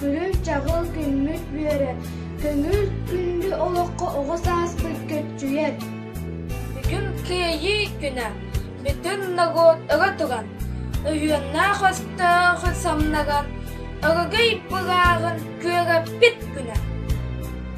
Күлүү-чаҕыл күммүт бүөрэ, көҥүл күндү олоххо оҕо сааспыт көччүйэр. Бүгүн Кыайыы күнэ. Бүтүн норуот ыга туган, өйүөннээх өстөөх самнаган, өрөгөй былааҕын күөгэппит күнэ.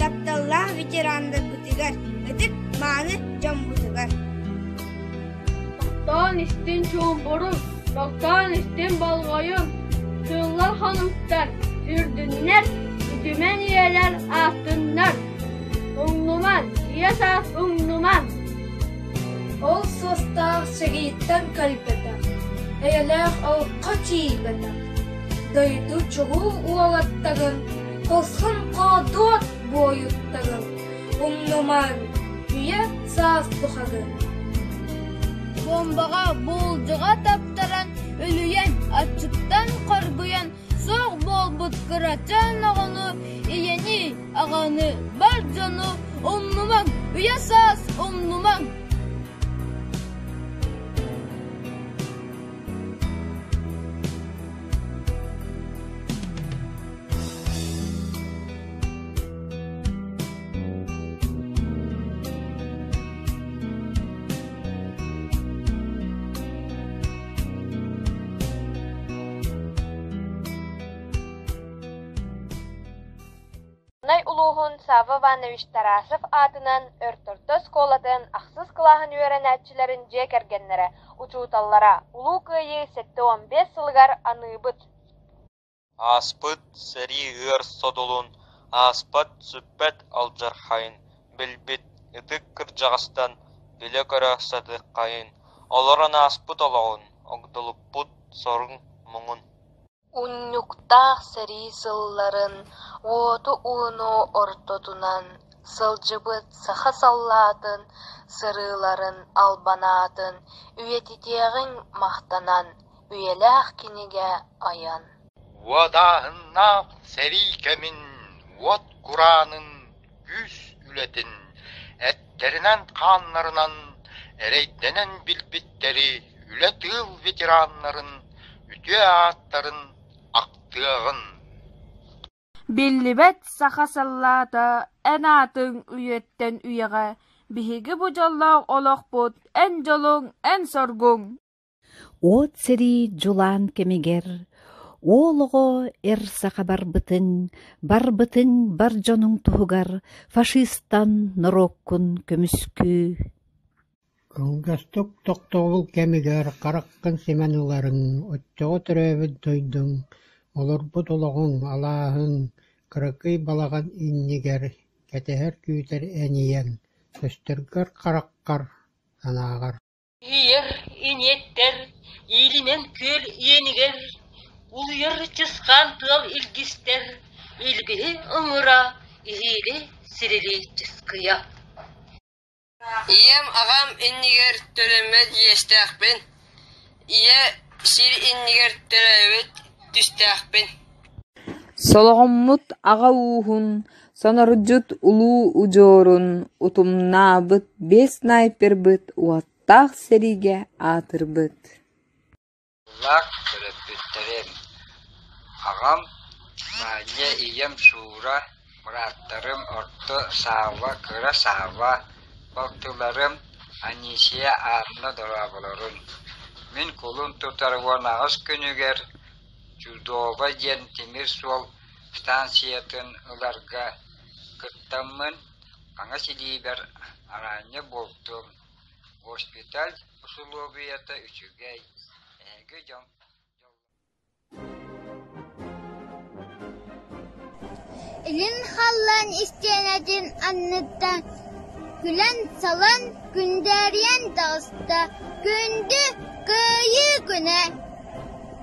Тапталлаах ветерандарбытыгар, ытык мааны дьоммутугар. Таптаан истин чуумпурун, таптаан истин болҕойун, сыллар хонуктар, үрдүннэр, үтүмэн үйэлэр ааттыннар. Уҥнуман, ийэ саас уҥнуман. Ол суостаах сэгииттэн кэлбэтэх, эйэлээх алқа тиийбэтэх, дойду чулуу уолаттарын Хосхоҥ-хоодуот буойуттагын, умнумаҥ, үйэ-саас бухагын. Бомбаҕа буулдьаҕа таптаран, үлүйэн, аччыктан хоргуйан, суох буолбут кырачаан оҕону, ийэни, аҕаны, бар дьону умнумаҥ, үйэ-саас умнумаҥ. улууһун Сава Иванович Тарасов аатынан Өрт орто оскуолатын ахсыс кылааһын үөрэнээччилэрин дьиэ кэргэннэрэ, учууталлара Улуу Кыайыы сэттэ уон биэс сылыгар аныыбыт Ааспыт сэрии ыар содулун ааспат-сүппэт алдьархайын билбит ытык кырдьаҕастан билэ-көрө сатыаххайын, олорон ааспыт олоҕун, огдолуппут соруҥ-муҥун. Унньуктаах сэрии сылларын уоту ууну ортотунан сылдьыбыт саха саллаатын сырыыларын албанаатын үйэтитиэҕиҥ махтанан, үйэлээх кинигэ айан уотааһыннаах сэрии кэмин уот кураанын күүс үлэтин эттэринэн-хааннарынан эрэйдэнэн билбиттэри үлэ тыыл ветераннарын үтүө ааттарын ахтыаҕын биллибэт саха сыллаата эн аатыҥ үйэттэн үйэҕэ биһиги бу дьоллоох олохпут эн дьолуҥ эн соргуҥ От сэрии дьулаан кэмигэр уол оҕо эр саха барбытын, барбытын бар дьонуҥ туһугар фашистан норуоккун көмүскүү. Кылгастык тохтобул кэмигэр хараххын симэн ыларын, оччоҕо төрөөбүт дойдуҥ, олорбут олоҕуҥ алааһын, кыракый балаҕан иннигэр кэтэһэр-күүтэр энийэн, көстөргөр-хараххар, санааҕар Ийэр, иниэттэр иилинэн күөл иэнигэр улуйар чысхаан тыал илгистэр илгиһи ыҥыра, иһиили сирилии чыскыйа. Ийэм аҕам иннигэр төлөммөт иэстээхпин, ийэ сир иннигэр төрөөбүт түстээхпин. Солоҕоммут аҕа ууһун Сонорудьут улуу удьуорун утумнаабыт биэс снайпербыт уоттаах сэриигэ аатырбыт төрөппүттэрим аҕам Маанньа ийэм Шура бырааттарым орто Саава кыра Саава балтыларым Анисия Анна дорооболорун мин кулун тутар уон аҕыс күнүгэр Чудово диэн тимир суол станциятын ыларга кыттаммын, хаҥас илиибэр араанньа буолтум. Госпиталь усулуобуйата үчүгэй. Эһиги дьон Илин халлаан истиэнэтин анныттан күлэн-салан күндээрийэн таҕыста. Күндү Кыайыы күнэ!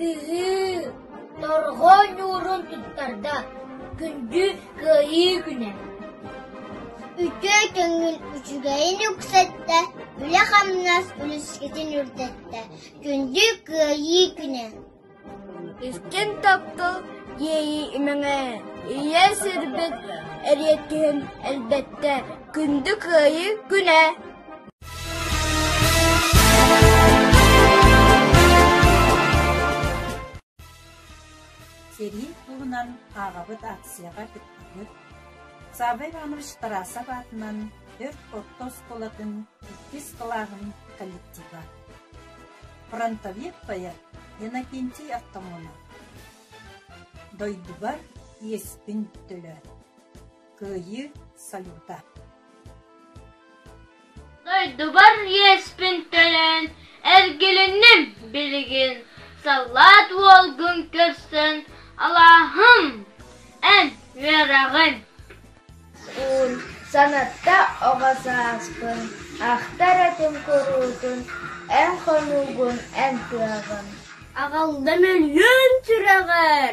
Сыһыы, торҕо ньуурун туттарда, күндү кыайыы күнэ Үтүө көҥүл үчүгэйин үксэттэ, үлэ-хамнас үлүскэтин үрдэттэ, күндү кыайыы күнэ Истин тапта иэйии имэҥэ, ийэ сирбит эриэккиһин элбэттэ, күндү кыайыы күнэ Сэрии туһунан ааҕабыт аакцияҕа кыттыгыт. Саабай Иванович Тарасов аатынан Өрт орто оскуолатын иккис кылааһын коллектива. Фронтовик поэт Иннокентий Артамонов. Дойдубар иэспин төлөөн. Кыайыы салюта Дойдубар иэспин төлөөн эргилинним билигин саллаат уолгун көрсөн алааһым эн үөрэҕин Уун санатта оҕо сааспын ахтар этим куруутун эн хонуугун эн кыаҕын Аҕалда мөлүйүөн сүрэҕэр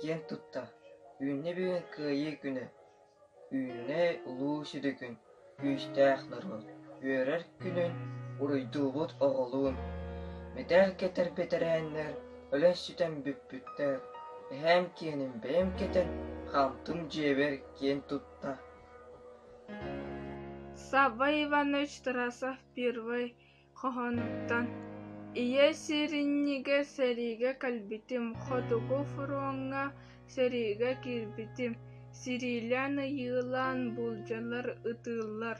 Киэн тутта, үүннэ бүгүн Кыайыы күнэ, үүннэй улуу сүдүкүн, күүстээх норуот, үөрэр күнүн, уруйдуубут оҕолуун. Мэтээл кэтэр бэтэрээннэр, өлөн сүтэн бүппүттэр, эһээм киэним бэйэм кэтэн, хаамтым дьиэбэр киэн тутта. Саба Иванович Тарасов первый хоһоонуттан «Ийэ сиэринньигэ» сэриигэ кэлбитим, «Хотугу фроҥҥа» сэриигэ киирбитим, сириилээн-ыйыылаан буулдьалар ытыыллар,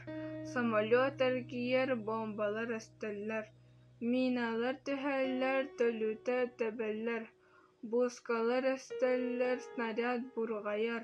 самолет эргийэр, бомбалар эстэллэр, миналар түһэллэр, төлүтэ тэбэллэр, буускалар эстэллэр, снаряд бурҕайар,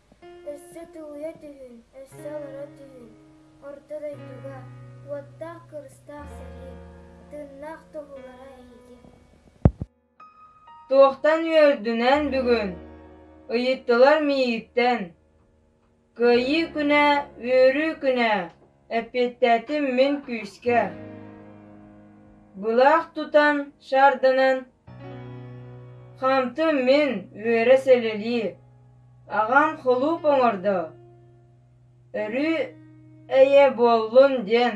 Өссө тулуйа түһүн, өссө олоро түһүн, орто дойдуга, уоттаах-кырыстаах сэрии, тыыннаах тоһуулара эһиги. Туохтан үөрдүнэн бүгүн ыйыттылар миигиттэн: Кыайыы күнэ, үөрүү күнэ, Эппиэттээтим мин күүскэ Былаах тутан шарданан Хамтым мин үөрэ сэлэлии Аҕам холууп оҥордо Өрүү эйэ буоллун диэн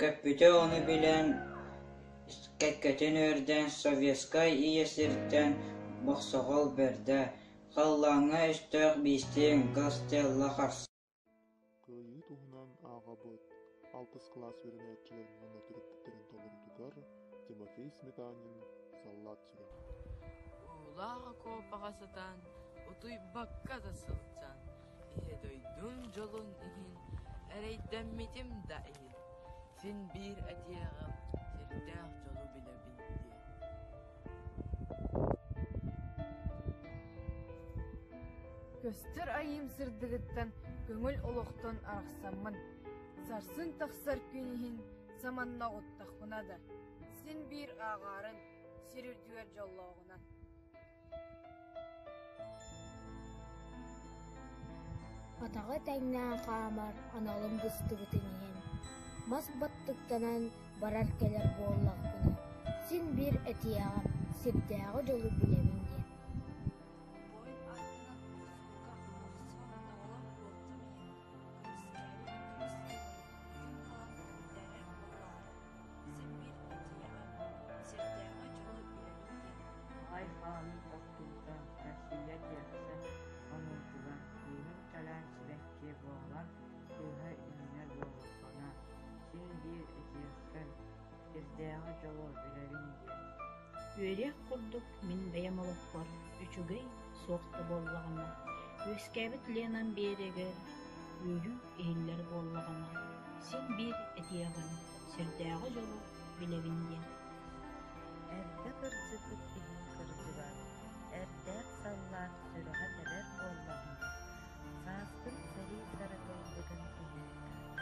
Көппүтэ ону билэн, кэккэтин үөрдэн, советскай ийэ сиртэн бохсоҕол бэрдэ, халлааҥҥа өстөөх биистиин Гастелло харса Кыайыы туһунан ааҕабыт. Алтыс кылаас үөрэнээччилэр уонна төрөппүттэрин толорутугар Тимофей Сметанин саллаат Уулаах окуопаҕа сытан, утуйбакка да сылдьан, ийэ дойдум дьолун иһин эрэйдэммитим да иһин, син биир этиэҕим сирдээх дьолу билэбин диэн Көстөр айыым сырдыгыттан көҥүл олохтон арахсаммын, сарсын тахсар күн иһин саманна уттахпына да, син биир ааҕаарын сир үрдүгэр дьоллооҕунан. Атаҕы тэҥнээн хаамар аналым быстыбытын иһин, мас баттыктанан барар-кэлэр буоллахпына, син биир этиэҕим, сирдээҕи дьолу билэбин диэн. Сэммиэппин диэҕим, сирдээҕи дьону биэрэргин. Айхаан охтуута, Россия тиэрсэ онордулар, кыыһым кэлээн сибэккиэ буолан, кыыһа иннинэ дуолуххана, син-биир этиэххин, сирдээҕи дьолу билэбин диэн. Үөрүөх курдук мин бэйэм олохпор үчүгэй, суох да буоллаҕына, үөскээбит Ленам Биэрэгэр үөрүү иһиллэр буоллаҕына, син биир этиэҕим, сүрдээҕи дьолу билэбин диэн. Эрдэ кырдьыбыт иһин кырдьыбат, эрдээх саллаат сүрэҕэ тэбэр буоллаҕына, саастын сэрии сарыкайдыгын иһин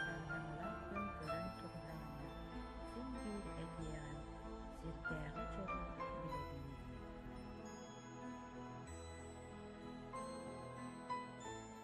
сардаҥалаах күн көрөн туруһаҕына, син биир этиэҕим, сирдээҕи дьолу билэбин дии.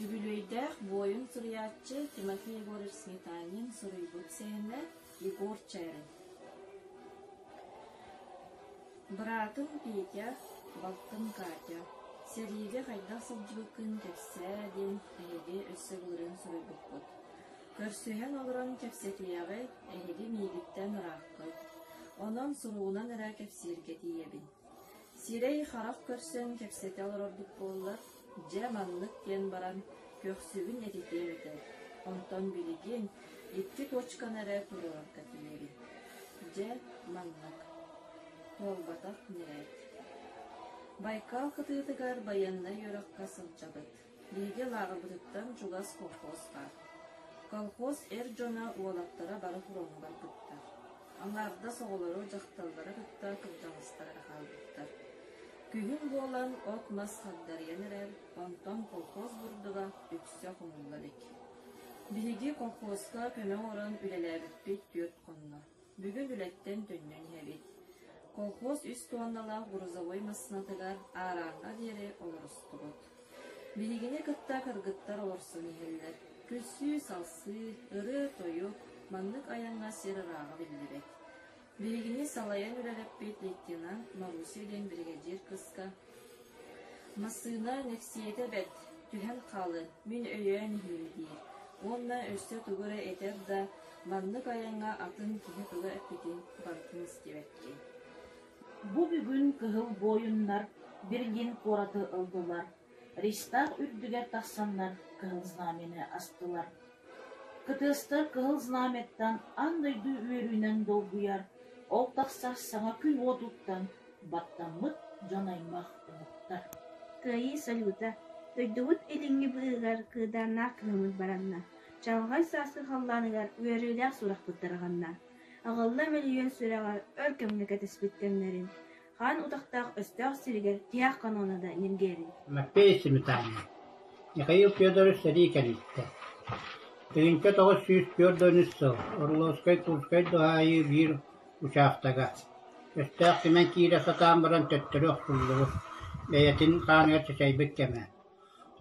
Үбүлүөйдээх буойун суруйааччы Тимофей Егорович Сметанин суруйбут сэһэнэ «Егор Чээрин». Быраатым Петя, балтым Катя. Сэриигэ хайдах сылдьыбыккын кэпсээ диэн эһиги өссө былырыын суруйбуппут. Көрсүһэн олорон кэпсэтиэҕи эһиги миигиттэн ырааппыт. Онон суругунан эрэ кэпсииргэ тиийэбин. Сирэй харах көрсөн кэпсэтэ олорорбут буоллар, дьэ маннык диэн баран көхсүбүн этитиэм этэ, онтон билигин икки туочканы эрэ туруорарга тиийэбин. Дьэ, маннык. Туолбатах ньирээт. Байкал кытыытыгар байыаннай үөрэххэ сылдьабыт. Лидия лааҕырбытыттан чугас колхозка. Колхоз эр дьоно, уолаттара бары фроҥҥа барбыттар. Аҥаардас оҕолоро, дьахталлара кытта кырдьаҕастара хаалбыттар. Күһүн буолан от-мас хагдарыйан эрэр, онтон колхоз бурдуга үксэ хомулла илик. Биһиги колхозка көмө оҥорон үлэлээбиппит түөрт хонно. Бүгүн үлэттэн төннөн иһэбит. Колхоз үс туонналаах грузовой массыынатыгар аарааҥҥа диэри олорустубут. Билигини кытта кыргыттар олорсон иһэллэр. Күлсүү-салсыы, ырыа-тойук, маннык айаҥҥа сир ырааҕа биллибэт. Билигини салайан үлэлэппит лейтенант Маруся диэн биригэдьиир кыска Массыына нэксиэтэ бэрт, түһэн хаалы, мин өйөөн иһиим диир, уонна өссө тугу эрэ этэр да, маннык айаҥҥа атын киһи тыла эппитин барытын истибэттии Бу бүгүн кыһыл буойуннар Берлин куораты ыллылар, Ристах үрдүгэр тахсаннар кыһыл знамяны астылар Кытыастар Кыһыл Знамяттан аан дойду үөрүүнэн долгуйар, ол тахсар саҥа күн уотуттан баттаммыт дьон-аймах омуктар «Кыайыы сойуута» дойдубут илиҥҥи быыһыгар кыыдааннаах кыһыммыт баранна, чаҕылхай сааскы халлааныгар үөрүүлээх сурахпыт тарҕанна, аҕылла мөлүйүөн сүрэҕэр өр кэмҥэ кэтэспит кэмнэрин, Хаан утахтаах өстөөх сиригэр тиһэх канона да ньиргийэбин Маппei Симитаня, Михаил Федорович сэрии кэнниттэ Тыйыҥка тоҕус сүүс түөрт да үс сыл Орловскай-Курскай дуһаайыы биир учаактага өстөөх кимэн киирэ сатаан баран төттөрү охтуллубут, бэйэтин хааныгар чачайбыт кэмэ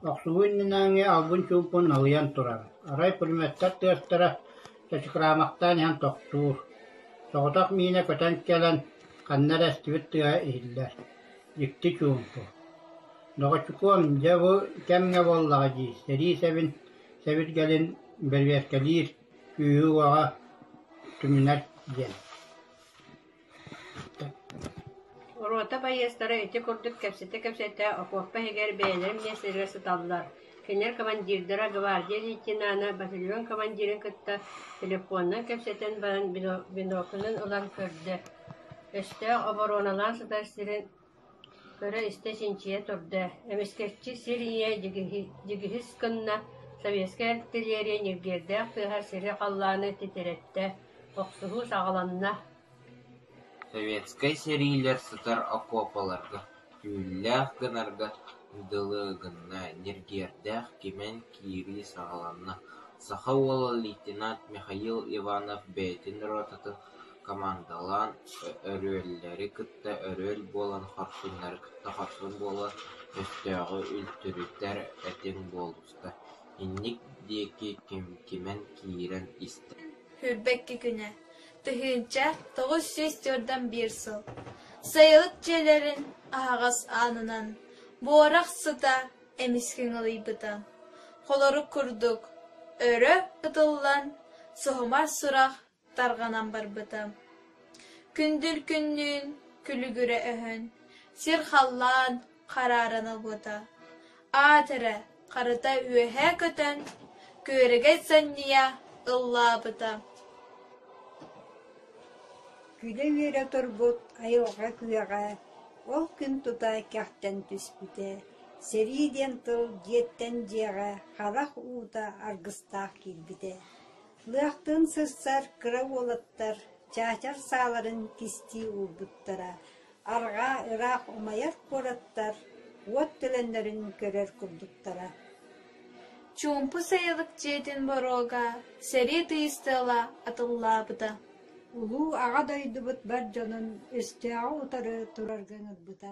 Охсуһуу иннинээҥҥи албын-чуумпун налыйан турар, арай пулеметтар тыастара чачыкраамахтаан иһэн тохтуур, соҕотох миинэ көтөн кэлэн ханна эрэ эстибит тыаһа иһиллэр, дьикти чуумпу. «Доҕоччукуом, дьэ бу кэмҥэ буоллаҕа дии», – сэрии сэбин сэбиргэлин бэрбиэркэлиир күүһү-уоҕа түмүнэр диэн Рота байыастара ити курдук кэпсэтэ-кэпсэтэ окуопа иһигэр бэйэлэрин миэстэлэрэ сыталлар, кинилэр командирдара гвардия лейтенана батальон командирын кытта телефонунан кэпсэтэн баран бинокльын ылан көрдө, өстөөх обороналаан сытар сирин Көрө-истэ чинчийэ турда, эмискэччи сир ийэ дьигиһис гынна, сэбиэскэй артиллерия ньиргиэрдээх тыаһар сири-халлааны титирэттэ, охсуһуу саҕаланна Советскай сэриилэр сытар окуопаларга, түүллээх гынарга дылы гынна, ньиргиэрдээх кимэн киирии саҕаланна, саха уола лейтенант Михаил Иванов бэйэтин ротатын командалаан өрүөллэри кытта өрүөл буолан хорсуннары кытта хорсун буола, өстөөҕү үлтүрүтэр этиҥ буолуста, инник диэки ким-кимэн киирэн истэ Хүрбэкки күнэ, тыһыынча тоҕус сүүс туордан биир сыл Сайылык дьиэлэрин аһаҕас аанынан буорах сыта эмискэ ыҥылыйбыта. Холорук курдук өрө ытыллан, суһумар сурах Тарҕанан барбыта. Күндүл күннүүн күлүгүрэ өһөн, сир халлаан харааран ылбыта. Аат эрэ харыта үөһээ көтөн, күөрэгэй санньыйа ыллаабыта Күлэ-үөрэ турбут айылҕа күөҕэ ол күн тута кэхтэн түспүтэ. Сэрии диэн тыл дьиэттэн дьиэҕэ харах уута аргыстаах киирбитэ Лыахтыын сырсар кыра уолаттар чаачар сааларын кистии уурбуттара, арҕаа ыраах умайар куораттар уот төлөннөрүн көрөр курдуктара Чуумпу сайылык дьиэтин боруога сэрии тыйыс тыала атыллаабыта Улуу Аҕа дойдубут бар дьонун өстөөҕү утары турарга ыҥырбыта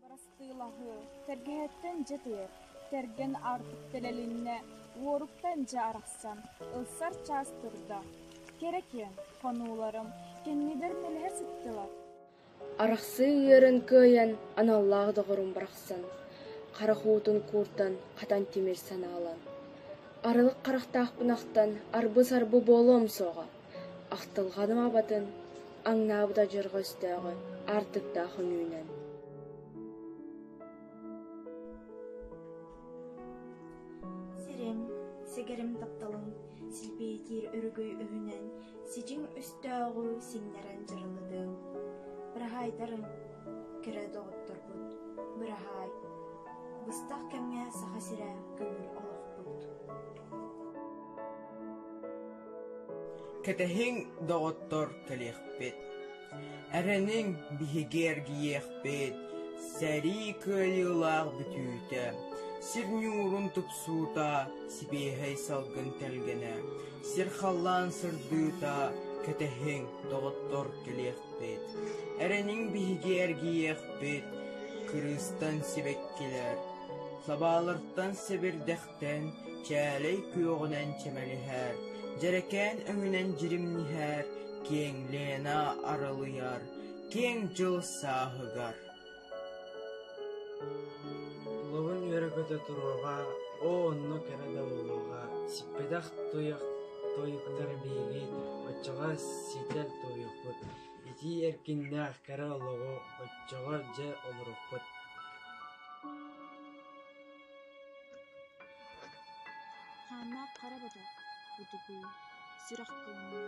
Бырастыылаһыы тэлгэһэттэн дьэ тиэр, кэргэн аартык тэлэлиннэ, уоруктан дьэ арахсан, ылсар чаас турда. Кэрэ киэҥ хонууларым кэннигэр мэлэһэ сыттылар. Арахсыы ыырын кыайан аналлаах доҕорум барахсан, харах уутун кууртан хатан тимир санаалан, арылык харахтаах бунахтан арбы-сарбы буолуом суоҕа. Ахтылҕаным абатын аҥнаабыт адьырҕа өстөөҕү аартыктаах үҥүүнэн Сириҥ, сигэрим тапталыҥ силбиэтиир өрүкүй өһүнэн сидьиҥ өстөөҕү сиҥнэрэн дьырылытыҥ. Быраһаайтарыҥ, кэрэ доҕотторбут, быраһаай, быстах кэмҥэ Саха сирэ көҥүл олохпут. Кэтэһиҥ, доҕоттор, кэлиэхпит. Эрэниҥ, биһиги эргийиэхпит. Сэрии кыайыылаах бүтүүтэ, сир ньуурун тупсуута, сибиэһэй салгын тэлгэнэ, сир халлаан сырдыыта, кэтэһиҥ, доҕоттор, кэлиэхпит. Эрэниҥ, биһиги эргийиэхпит. Кырыыстан сибэккилэр, лабаалартан сэбирдэх Кэриэһиттэн чээлэй күөҕүнэн чэмэлиһэр, дьэрэкээн өҥүнэн дьиримниһэр, киэҥ Лена арылыйар, киэҥ дьыл сааһыгар. Тулабын үөрэ-көтө туруоҕа, оо онно кэрэ да буолуоҕа, сиппэтэх туйах тойуктар биһиги оччоҕо ситэр туйахпыт, итии эркиннээх кэрэ олоҕу оччоҕо дьэ олоруппут. Хааннаах хара бата утугуй, сүрэх кылына,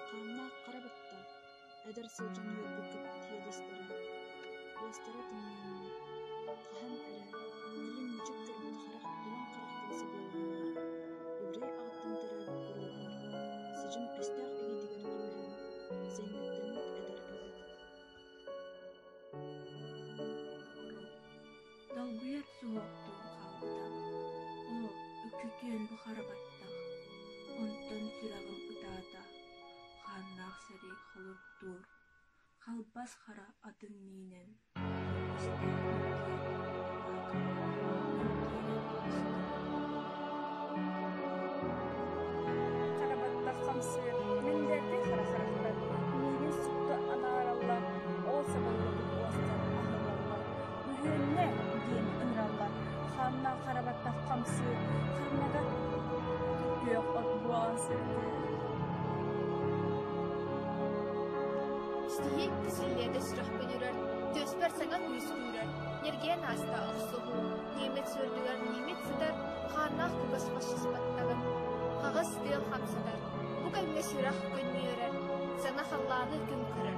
хааннаах хара батта эдэр сылдьан үөрбүт кэппит иэдэстэрэ, уостара тымныйанна, хаһан эрэ ньирин мүчүк көрбүт харах тулан харахтара сабыыланна, ибирэй аҕаттан төрөөбүт буруоланар, сыдьым өстөөх илиитигэр түбэһэн, сэҥгэттэммит эдэр эбит Долгуйар суһуохтук хаалта. Оо, үкүтүөн бу хара баттах. Онтон сүрэҕим ытаата. Хааннаах сэрэй холоттуур. Халбас хара атын миинэн. Хара баттах хамсыыр. Мин дэрги хара харахтар. Миигин сүктэ анаараллар. Ол сабыллыбыт уостар аһылаллар. «Үһүөннэ!» диэн ыҥыраллар. Хааннаах хара баттах хамсыыр, ханныга күөх от буолан сырдыыр Ситиһиит силиэдэ сүрэх бөлүрэр, түөспэр саҥа күүс үүрэр, ньиргийэн ааста охсуһуу, немец үрдүгэр немец сытар, хааннаах кугас фашиспаттанар, хаҕыс тыал хамсатар, бу кэмҥэ сүрэх көнньүөрэр, сана халлааны күн көрөр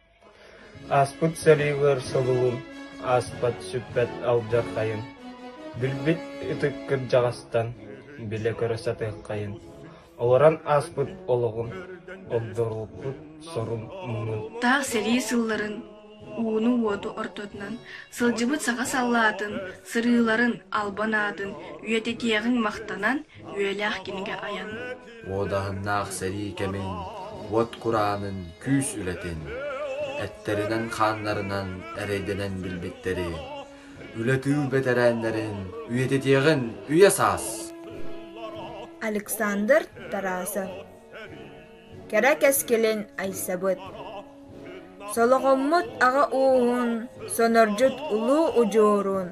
Ааспыт сэриилэр сылылын ааспат сүппэт алдьархайын, билбит ытык кырдьаҕастан билэ көрө сатыаххайын, олорон ааспыт олоҕун, олдоруппут сорун-муҥун. Таах сэрии сылларын ууну-уоту ортотунан сылдьыбыт саха саллаатын сырыыларын албан аатын үйэтитиэҕиҥ махтанан Үөлээх кинигэ айан. Уодаһыннаах сэрии кэмин, уот кураанын, күүс үлэтин, эттэринэн-хааннарынан эрэйдэнэн билбиттэри, үлэ-тыыл бэтэрээннэрин үйэтитиэҕин үйэ саас! Александр Тарасов Кэрэ кэскилин айсабыт Солоҕоммут аҕа ууһун, сонордьут улуу удьуорун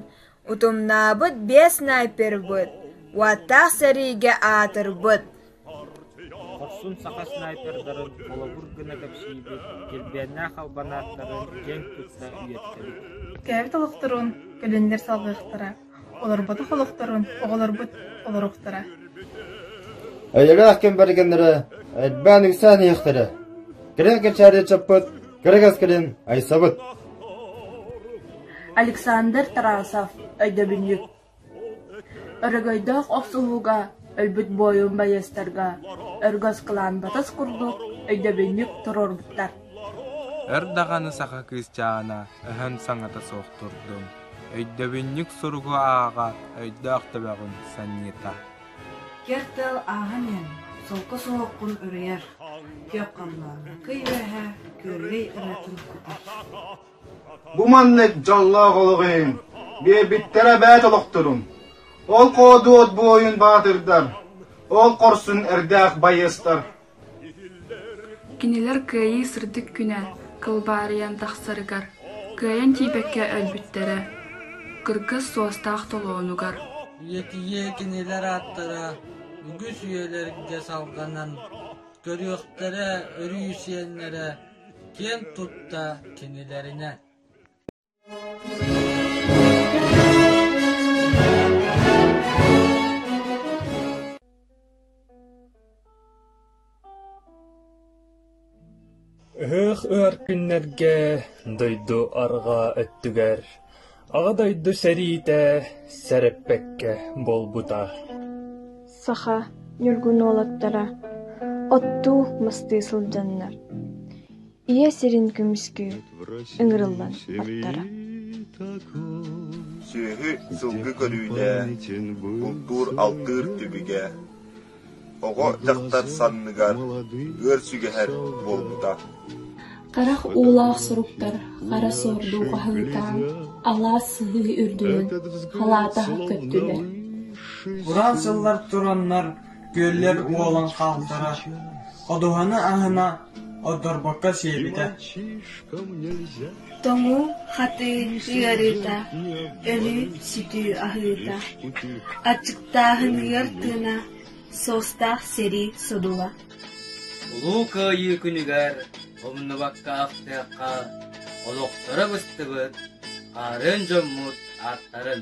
Утумнаабыт биэс снайпербыт уоттаах сэриигэ аатырбыт Хорсун саха снайпердарын холобур гына кэпсиибит, дьилбиэннээх албанааттарын дьиҥ тутта үйэттэбит. Кэбит олохторун кэлэннэр салҕыахтара, олорботох олохторун оҕолорбут олоруохтара. Эйэҕээх кэм бэргэннэрэ элбээн үксээн иһиэхтэрэ. Тирэх кэчээрийэ чаппыт Кыра кэскилин айсабыт Александр Тарасов өйдөбүнньүк Өрөгөйдөөх охсуһууга өлбүт буойун байыастарга өргөс кылаан батыс курдук өйдөбүнньүк туруорбуттар. Өр даҕаны саха кыысчаана өһөн саҥата суох турдун. Өйдөбүнньүк суругу ааҕа өйдөөх төбөҕүн санньыта. Кэрт дал ааһан иһэн, солко суһуохпун уруйар, киэп-хамнаан, кый үөһэ күөллэй ырыатын кутар «Бу маннык дьоллоох олох иһин биэрбиттэрэ эбээт олохторун, ол Хоодуот буойун баатырдар, ол хорсун эрдээх байыастар Кинилэр кыайыы сырдык күнэ кылбаарыйан тахсарыгар, кыайан тиийбэккэ өлбүттэрэ, кыргыс суостаах толоонугар ийэтийэ кинилэр ааттара үгүс үйэлэргэ салҕанан көрүөхтэрэ, өрүү сиэннэрэ киэн тутта кинилэринэ Ыһыах ыар күннэргэ дойду арҕаа өттүгэр Аҕа дойду сэриитэ сэрэппэккэ буолбута. Саха ньургун уолаттара оттуу мастыы сылдьаннар Ийэ сирин көмүскүү ыҥырыллан аттара. Сүөһү сылгы көрүүнэ, бултуур-алтыыр түбүгэ, оҕо дьахтар санныгар ыар сүгэһэр буолбута. Харах уулаах суруктар хара суордуу аһыытаан, алаас сыһыы үрдүнэн халаата көттүлэр. Кураан сыллар тураннар Күөллэр уолан хаалтара, ходуһаны аһына ордорбокко сиэбитэ Тоҥуу хатыы ыарыыта, өлүү сүтүү аһыыта, аччыктааһыныгар тыына, суостаах сэрии судула Улуу Кыайыы күнүгэр умнубакка ахтыахха олохторо быстыбыт хаарын дьоммут ааттарын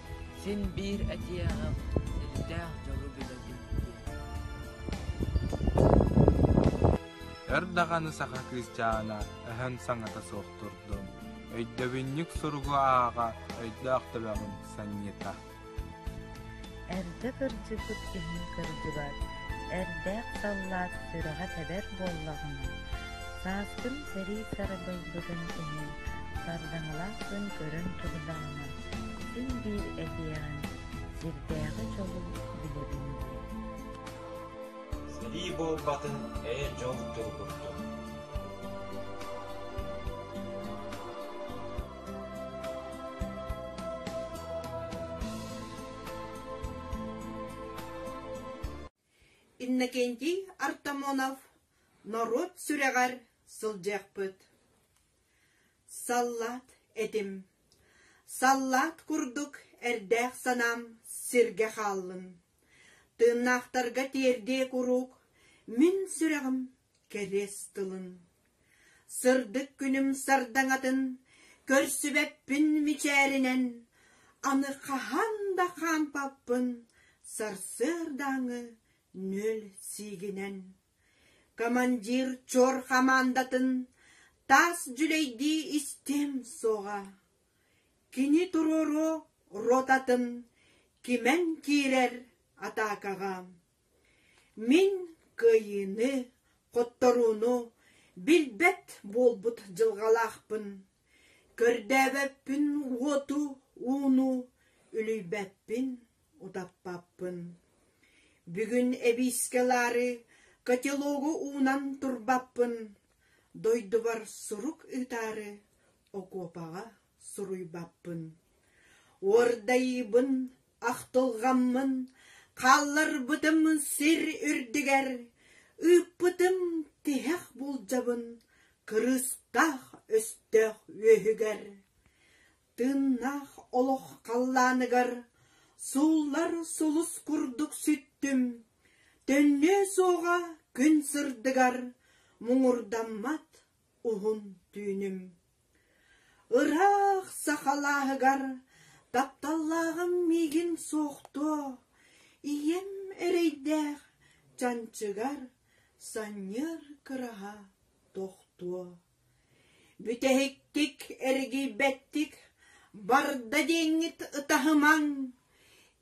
Син биир этиэҕим силтээх дьолу билэтим дии Өр даҕаны саха кыысчаана өһөн саҥата суох турдум Өйдөбүнньүк суругу ааҕа өйдөөх төбөҕүм санньыта Эрдэ кырдьыбыт иһин кырдьыбат Эрдээх саллаат сүрэҕэ тэбэр буоллаҕына Сааскым сэрии сарбайбытын иһин Сардаҥалаах күн көрөн турудаҕына Син биир этиэҕин сирдээҕи дьолу билэбин диэ Сэрии буолбатын эйэ дьол тыл курдук Иннокентий Артамонов норуот сүрэҕэр сылдьыахпыт. Саллаат этим. Саллаат курдук эрдээх санаам сиргэ хааллын. Тыыннаахтарга тиэрдиэ куруук мин сүрэҕим кэриэс тылын. Сырдык күнүм сардаҥатын көрсүбэппин мичээринэн, аны хаһан да хаампаппын сарсыардааҥы нүөл сиигинэн. Командир чор хамаандатын таас дьүлэйдии истиэм суоҕа. Кини туруору ротатын кимэн киирэр атаакаҕа Мин кыайыыны, хотторууну билбэт буолбут дьылҕалаахпын, көрдөөбөппүн уоту ууну, үлүйбэппин утаппаппын. Бүгүн эбиискэ ылаары котелогу уунан турбаппын, дойдубар сурук ыытаары окуопаҕа суруйбаппын. Уордайыыбын, ахтылҕаммын, хаалларбытым сир үрдүгэр, ыыппытым тиһэх булдьабын кырыыстаах өстөөх үөһүгэр. Тыыннаах олох халлааныгар сууллар сулус курдук сүттүм, төннүө суоҕа күн сырдыгар муҥурдаммат уһун түүнүм Ыраах саха алааһыгар тапталлааҕым миигин суохтуо ийэм эрэйдээх чанчыгар санньыар кыраһа тохтуо бүтэһиктик эргийбэттик барда диэҥҥит ытаһымаҥ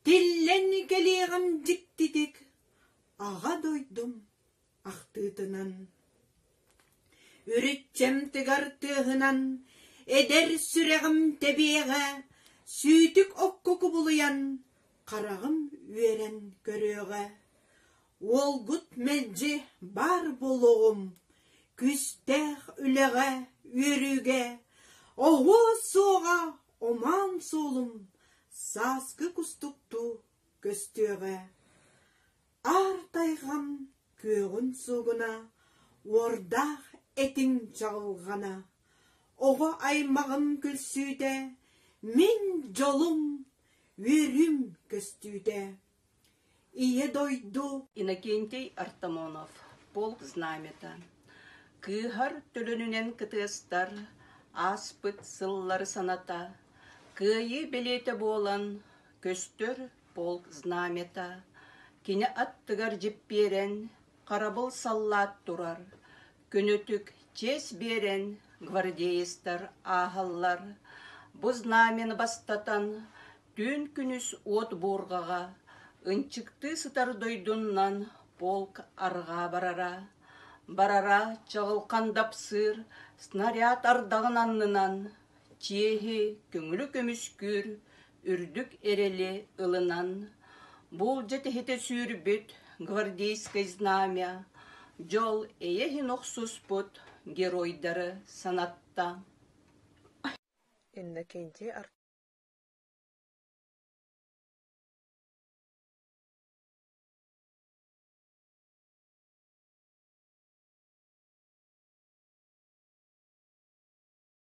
тиллэн кэлиэҕим дьиктитик аҕа дойдум ахтыытынан Үрүччэм тыгар тыаһынан Эдэр сүрэҕим тэбиэҕэ Сүүтүк окко кубулуйан Хараҕым үөрэн көрүөҕэ Уолгут мэлдьи баар буолуоҕум Күстээх үлэҕэ, үөрүүгэ Оһуо суоҕа омаан суолум Сааскы кустуктуу көстүөҕэ Аар тайҕам күөҕүн суобуна, уордаах этиҥ чаҕылҕана, оҕо аймаҕым күлсүүтэ, мин дьолум, үөрүүм көстүүтэ. Ийэ дойду Иннокентий Артамонов Полк знамята кыыһар төлөнүнэн кытыастар ааспыт сыллар саната кыайыы бэлиэтэ буолан көстөр Полк знамята кини аттыгар дьиппиэрэн, харабыл саллаат турар, күнүтүк чиэс биэрэн гвардеецтар ааһаллар. Бу знамяны бастатан, түүн күнүс уот буурҕаҕа ынчыктыы сытар дойдунан полк арҕаа барара. Барара чаҕылхан дапсыыр снаряд ардаҕын аннынан чиэһи күҥүрү көмүскүүр үрдүк эрэли ылынан буулдьа тиһитэ сүүрбүт гвардейскай знамя дьол эйэ иһин охсуспут геройдары санатта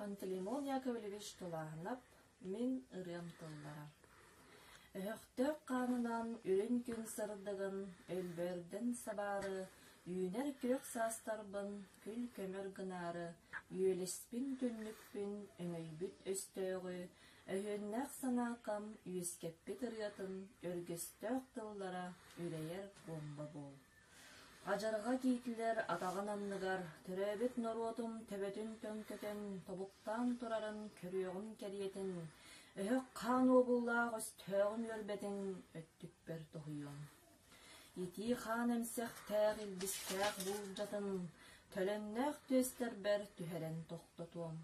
Пантелеймон Яковлевич тулааһынап, мин ырыам тыллара Өһөхтөөх хаанынан үрүҥ күн сырдыгын Өлбөрдөн сабаары Үүнэр күөх саастарбын Күл көмөр гынаары Үөлэспин түннүкпүн Өҥөйбүт өстөөҕү Өһүөннээх санаакам Үөскэппит ырыатын Өргөстөөх тыллара Үрэйэр буомба буол Адьарҕа тиитилэр атаҕын анныгар, төрөөбүт норуотум төбөтүн төҥкөтөн, тобуктаан турарын көрүөҕүм кэриэтин, өһөх хаан уобуллаах өстөөҕүн үөрбэтин өттүппэр тоһуйуом. Итии хаан эмсэхтээх илбистээх буулдьатын, төлөннөөх түөстэрбэр түһэрэн тохтотуом.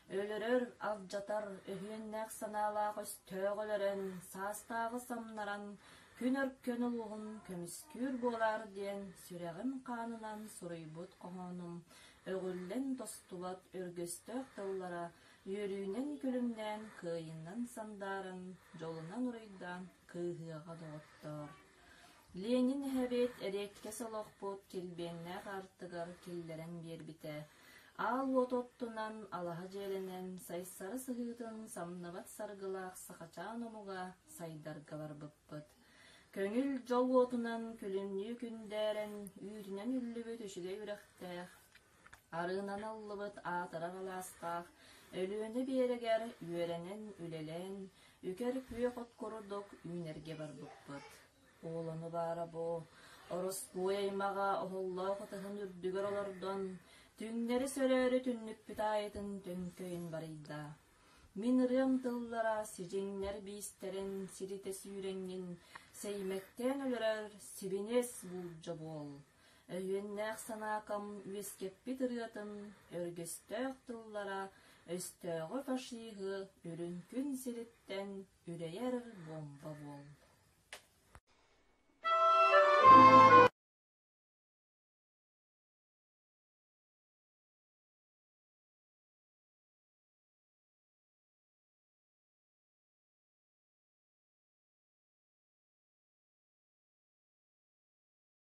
Өлөрөр, алдьатар, өһүөннээх санаалаах-өстөөх өлөрөн, саастааҕы самнаран, күн өркөн улууһун көмүскүүр буолаар диэн сүрэҕим хаанынан суруйбут хоһоонум өҕүллэн тостубат өргөстөөх тыллара үөрүүнэн-күлүмнээн кыайыннан сандааран, дьолунан уруйдаан кыыһыаҕа доҕоттоор Ленин эһэбит эриэккэс олохпут килбиэннээх артыгар киллэрэн биэрбитэ, аал уот оттунан, алаһа дьиэлэнэн, Сайсары сыһыытын самныбат саргылаах сахачаан омуга сайдарга барбыппыт. Көҥүл дьол уотунан күлүмнүү күндээрэн, үүтүнэн үллүбүт үчүгэй үрэхтээх Арыынаныллыбыт аатырар алаастаах Өлүөнэ биэрэгэр үөрэнэн, үлэлээн, үкэр күөх от курдук үүнэргэ барбыппыт. Уолуну баара бу, ороскуой аймаҕа оһоллоох атыһын үрдүгэр олордон, түҥнэри сөрөөрү түннүкпүт аайытын төҥкөйөн барыйда. Мин ырыам тыллара сидьиҥнэр биистэрин сиритэ сүүрэҥҥин сэймэктээн өлөрөр сибинэс буулдьа буол. Өйүөннээх санаакам үөскэппит ырыатын өргөстөөх тыллара өстөөҕү фашиһы үрүҥ күн сириттэн үрэйэр бомба буолла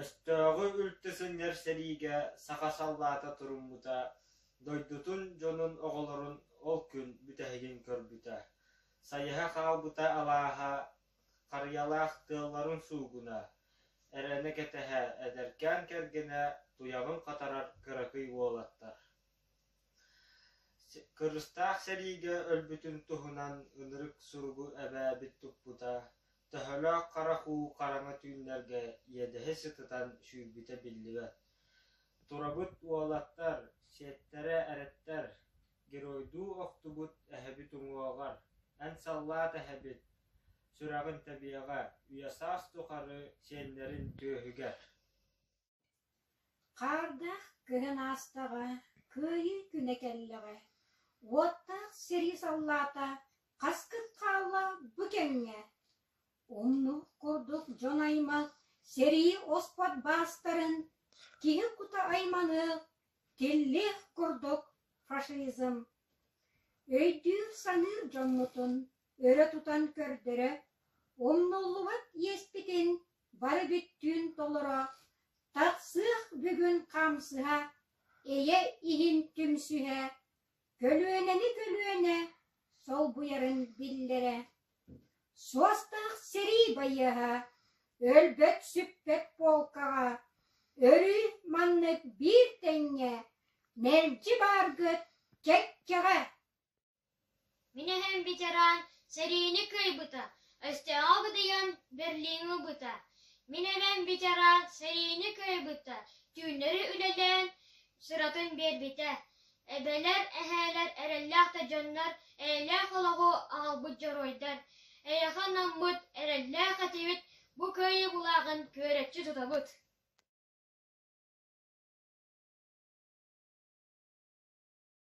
Өстөөҕү үлтү сынньар сэриигэ саха саллаата туруммута, дойдутун дьонун оҕолорун ол күн бүтэһигин көрбүтэ, сайыһа хаалбыта алааһа, харыйалаах тыалларын суугуна, эрэнэ кэтэһэ эдэркээн кэргэнэ туйаҕын хатарар кыракый уолаттар. Кырыыстаах сэриигэ өлбүтүн туһунан ынырык суругу эбээбит туппута, Төһөлөөх харах уу хараҥа түүннэргэ иэдэһи сытытан сүүрбүтэ биллибэт. Турабыт уолаттар, сиэттэрэ эрэттэр, геройдуу охтубут эһэбит уҥуоҕар, эн саллаат эһэбит, сүрэҕин тэбиэҕэ, үйэ-саас тухары сиэннэрин түөһүгэр Хаардаах кыһын аастаҕа, кыайыы күнэ кэллэҕэ, уоттаах сэрии саллаата хаскыт хаалла бу кэмҥэ? Умнук курдук дьон-аймах сэрии оспот баастарын, киһи кута айманы тиллиэх курдук фашизм. Өйдүүр-саныыр дьоммутун өрө тутан көрдөрө умнуллубат иэспитин бары бүттүүн толоро тахсыах бүгүн хамсыһа эйэ иһин түмсүһэ көлүөнэни көлүөнэ солбуйарын биллэрэ суостаах сэрии байыаһа өлбөт сүппэт полкаҕа өрүү маннык биир тэҥҥэ мэлдьи бааргыт кэккэҕэ Мин эһэм ветеран сэриини кыайбыта, өстөөҕү бытыйан Берлиҥи ылбыта, мин эбэм ветеран сэриини кыайбыта, түүннэри үлэлээн сыратын биэрбитэ, эбэлэр, эһээлэр эрэллээх да дьоннор, эйэлээх олоҕу аҕалбыт дьоруойдар, эйиэхэ анаммыт эрэллээх этибит, бу кыайыы булааҕын күөрэччи туттабыт